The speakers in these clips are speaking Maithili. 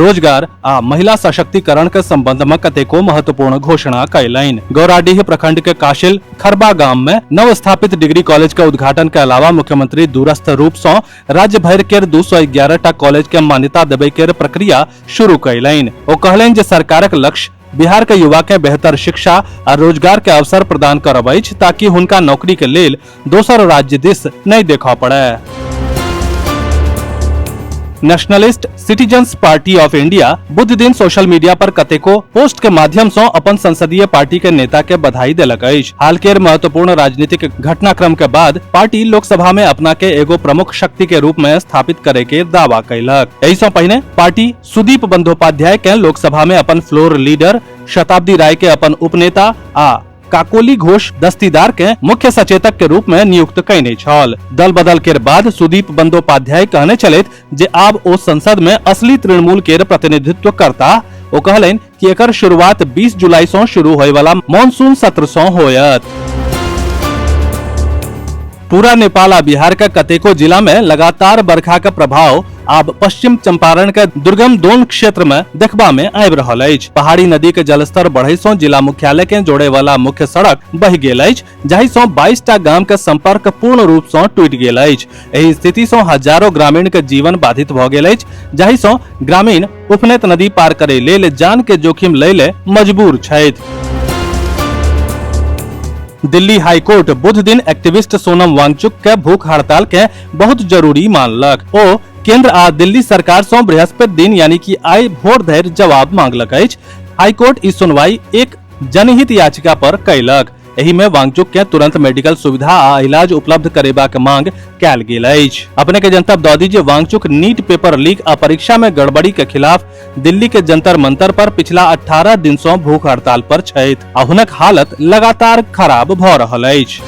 रोजगार आ महिला सशक्तिकरण के संबंध में कतेको महत्वपूर्ण घोषणा कैलनि गौराडीह प्रखंड के काशिल खरबा गाम में नव स्थापित डिग्री कॉलेज के उद्घाटन के अलावा मुख्यमंत्री दूरस्थ रूप से राज्य भर के दू सौ एगारह टा कॉलेज के मान्यता देवे के प्रक्रिया शुरू कैलनि ओ कहलनि जे सरकारक लक्ष्य बिहार के युवा के बेहतर शिक्षा आ रोजगार के अवसर प्रदान करब अछि ताकि हुनका नौकरी के लेल दोसर राज्य दिस नहि देखऽ पड़य nationalist citizens party of India बुध दिन सोशल मीडिया पर कतेको पोस्ट के माध्यम सं अपन संसदीय पार्टी के नेता के बधाई देलक अछि हाल केर महत्वपूर्ण राजनीतिक घटनाक्रम के बाद पार्टी लोकसभा में अपना के एगो प्रमुख शक्ति के रूप में स्थापित करे के दावा कैलक एहि सं पहिने पार्टी सुदीप बंदोपाध्याय के लोकसभा में अपन फ्लोर लीडर शताब्दी राय के अपन उपनेता आ काकोली घोष दस्तीदार के मुख्य सचेतक के रूप में नियुक्त कयने छल दल बदल के बाद सुदीप बंदोपाध्याय कहने चलैत जे आब ओ संसद में असली तृणमूल के प्रतिनिधित्व करता ओ कहलनि कि एकर शुरुआत 20 जुलाई सं शुरू होय वाला मॉनसून सत्र सं होयत पूरा नेपाल आ बिहार का कतेको जिला में लगातार बरखा का प्रभाव आब पश्चिम चंपारण के दुर्गम दोन क्षेत्र में देखबा में आबि रहल अछि पहाड़ी नदी के जलस्तर बढ़े सं जिला मुख्यालय के जोड़े वाला मुख्य सड़क बहि गेल अछि जाहि सं 22 टा गाम के संपर्क पूर्ण रूप सं टूटि गेल अछि एहि स्थिति सं हजारों ग्रामीण के जीवन बाधित भऽ गेल अछि जाहि सं ग्रामीण उफनैत नदी पार करै लेल जान के जोखिम लै ले मजबूर छथि दिल्ली हाईकोर्ट बुध दिन एक्टिविस्ट सोनम वांगचुक के भूख हड़ताल के बहुत जरूरी मानलक ओ केंद्र आ दिल्ली सरकार सं बृहस्पति दिन यानी कि आइ भोर धरि जवाब मांगलक अछि हाईकोर्ट ई सुनवाई एक जनहित याचिका पर कयलक एहि में वांगचुक के तुरंत मेडिकल सुविधा आ इलाज उपलब्ध करेबाक मांग कैल गेल अछि अपने के जनतब दऽ दी जे वांगचुक नीट पेपर लीक आ परीक्षा में गड़बड़ी के खिलाफ दिल्ली के जंतर मंतर पर पिछला 18 दिन सऽ भूख हड़ताल पर छथि आ हुनक हालत लगातार खराब भऽ रहल अछि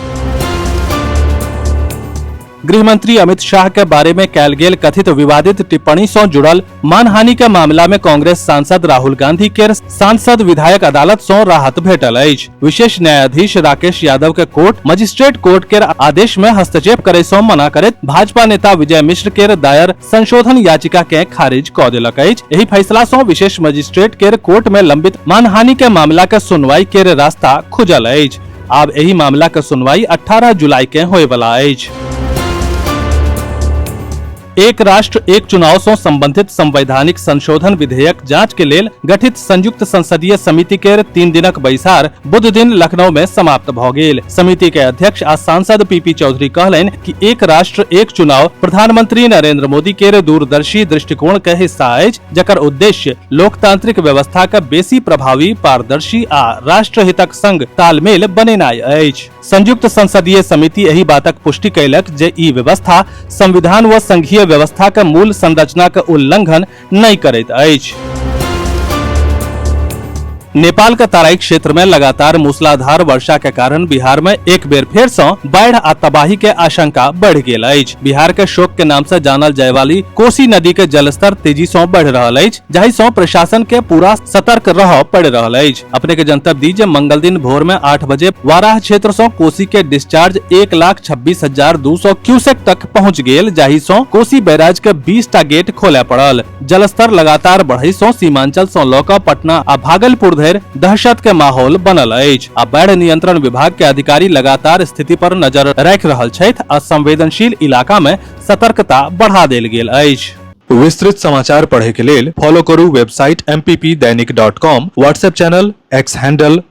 गृह मंत्री अमित शाह के बारे में कैल गेल कथित विवादित टिप्पणी सं जुड़ल मानहानि के मामला में कांग्रेस सांसद राहुल गांधी के सांसद विधायक अदालत सं राहत भेटल अछि विशेष न्यायाधीश राकेश यादव के कोर्ट मजिस्ट्रेट कोर्ट के आदेश में हस्तक्षेप करे सं मना करैत भाजपा नेता विजय मिश्र के दायर संशोधन याचिका के खारिज क देलक अछि एहि फैसला सं विशेष मजिस्ट्रेट के कोर्ट में लंबित मानहानि के मामला के सुनवाई के रास्ता खुजल अछि आब एहि मामला के सुनवाई 18 जुलाई के होय वाला अछि एक राष्ट्र एक चुनाव सं संबंधित संवैधानिक संशोधन विधेयक जांच के लेल गठित संयुक्त संसदीय समिति के तीन दिनक बैसार बुध दिन लखनऊ में समाप्त भ गेल समिति के अध्यक्ष आ सांसद पीपी चौधरी कहलनि कि एक राष्ट्र एक चुनाव प्रधानमंत्री नरेंद्र मोदी के दूरदर्शी दृष्टिकोण के हिस्सा अछि जकर उद्देश्य लोकतांत्रिक व्यवस्था के बेसी प्रभावी पारदर्शी आ राष्ट्रहितक संग तालमेल बनेनाय अछि संयुक्त संसदीय समिति एहि बातक पुष्टि कयलक जे ई व्यवस्था संविधान व संघीय व्यवस्था के मूल संरचना के उल्लंघन नहि करैत अछि नेपाल के तराई क्षेत्र में लगातार मूसलाधार वर्षा के कारण बिहार में एक बेर फेर से बाढ़ आ तबाही के आशंका बढ़ गेल अछि बिहार के शोक के नाम से जानल जाय वाली कोसी नदी के जलस्तर तेजी से बढ़ रहल अछि जाहि से प्रशासन के पूरा सतर्क रह पड़ रहल अछि अपने के जनतब दी जे मंगल दिन भोर में आठ बजे वाराह क्षेत्र से कोसी के डिस्चार्ज एक लाख छब्बीस हजार दू सौ क्यूसेक तक पहुँच गेल जाहि से कोसी बैराज के बीस टा गेट खोले पड़ल जलस्तर लगातार बढ़ै सं सीमांचल सं लऽ कऽ पटना आ भागलपुर धरि दहशत के माहौल बनल अछि आ बाढ़ नियंत्रण विभाग के अधिकारी लगातार स्थिति पर नजर राखि रहल छथि आ संवेदनशील इलाका मे सतर्कता बढ़ा देल गेल अछि विस्तृत समाचार पढ़े के लेल फॉलो करू website MPP Dainik dot com WhatsApp channel X handle